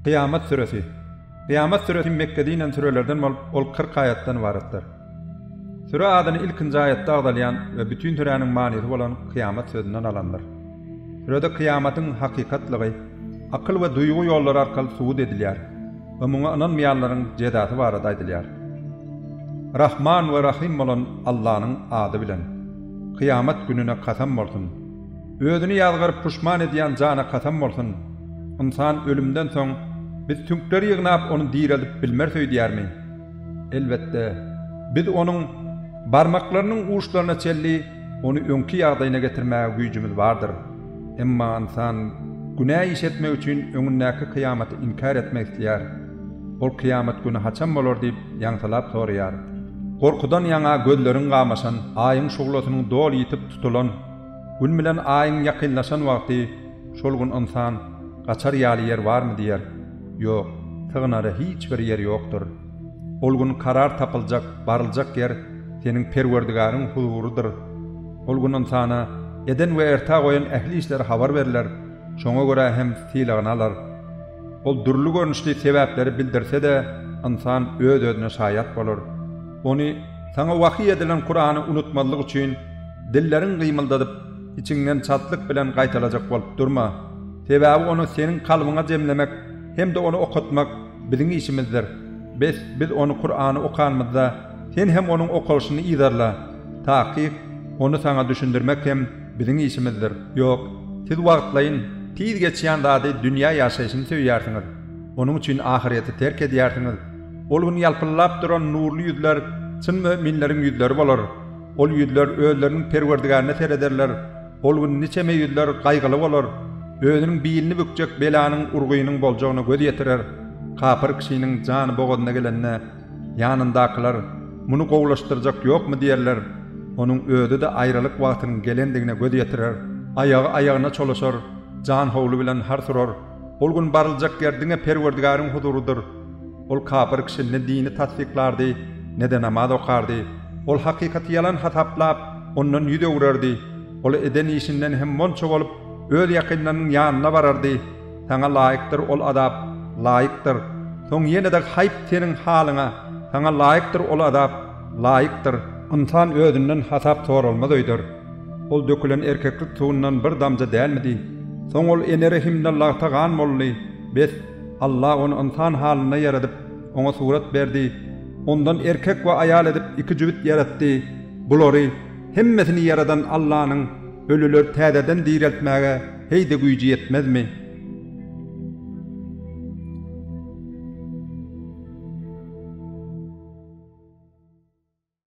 Kyýamat süresi. Kyýamat süresi Mekgede inen sürelerden bolup, ol kyrk aýatdan ybaratdyr. Süre adyny ilkinji aýatda agzalýan we bütin süräniň manysy bolan kyýamat sözünden alandyr. Sürede kyýamatyň hakykatlygy akyl we duýgy ýollary arkaly subut edilýär we muňa ynanmaýanlaryň jezasy barada aýdylýar. Rahman we Rahym bolan Allanyň ady bilen. Kyýamat gününe kasam bolsun! Özüni ýazgaryp puşman edýän jana kasam bolsun, ynsan ölümden soň biz süňkleri ýygnap ony direldip bilmeris öýdýärmi? Elbetde, biz onuň barmaklarynyň uçlaryna çenli ony öňki ýagdaýyna getirmäge güýjümiz bardyr. Emma ynsan günä iş etmek üçin öňündäki kyýamaty inkär etmek isleýär. Ol kyýamat güni haçan bolar diýip ýaňsylap soraýar. Gorkudan ýaňa gözleriň gamaşan, Aýyň şuglasynyň doly ýitip tutulan, Gün bilen Aýyň ýakynlaşan wagty şol gün ynsan, Gaçar ýaly ýer barmy? diýer. Ýok, sygynara hiç bir ýer ýokdur. Ol gün karar tapyljak, baryljak ýer seniň Perwerdigaryň huzurydyr. Ol gün ynsana eden we erta goýan ähli işleri habar berler, şoňa görä hem sylagyny alar. Ol dürli görnüşli sebäpleri bildirse-de, ynsan öz-özüne şaýat bolar. Ony, saňa wahyý edilen Kurany unutmazlyk üçin, Dilleriň gymyldadyp, içiňden çaltlyk bilen gaýtalajak bolup durma. Sebäbi ony seniň kalbyňa jemlemek hem-de ony okatmak biziň işimizdir. Bes, biz ony Kurany okanymyzda, sen hem onuň okalyşyny yzarla. Takyk, ony saňa düşündirmek hem biziň işimizdir. Ýok, siz wagtlaýyn, tiz geçýän zady, dünýä ýaşaýşyny söýýärsiňiz. Onuň üçin ahyrýeti terk edýärsiňiz. Ol gün ýalpyldap duran nurly ýüzler çyn müminleriň ýüzleri bolar. Ol ýüzler özleriniň Perwerdigärine serederler, ol gün niçeme ýüzler gaýgyly bolar, özüniň bilini bükjek belanyň urgynyň boljagyna göz ýetirer. Kapyr kişiniň jany bogazyna gelende, ýanyndakylar, Muny gowulaşdyrjak ýokmy? diýerler. Onuň özi-de aýralyk wagtynyň gelendigine göz ýetirer. Aýagy aýagyna çolaşar, jan howly bilen hars urar. Ol gün baryljak ýer diňe Perwerdigäriň huzurydyr. Ol kapyr kişi ne dini tassyklardy, ne-de namaz okardy. Ol hakykaty ýalan hasaplap, ondan ýüz öwrerdi. Ol eden işinden hem monça bolup, öz ýakynlarynyň ýanyna barardy. Saňa laýykdyr ol azap. Laýykdyr. Soň ýene-de haýp seniň halyňa! Saňa laýykdyr ol azap. Laýykdyr. Ynsan özünden hasap soralmaz öýder. Ol dökülen erkeklik suwundan bir damja dälmidi? Soň ol ene rehimde lagta gan boldy. Bes! Allah ony ynsan halynda ýaradyp, oňa surat berdi. Ondan erkek we aýal edip iki jübüt ýaratdy. Bulary, hemmesini ýaradan Allanyň, ölüleri täzeden direltmäge heý-de güýji ýetmezmi?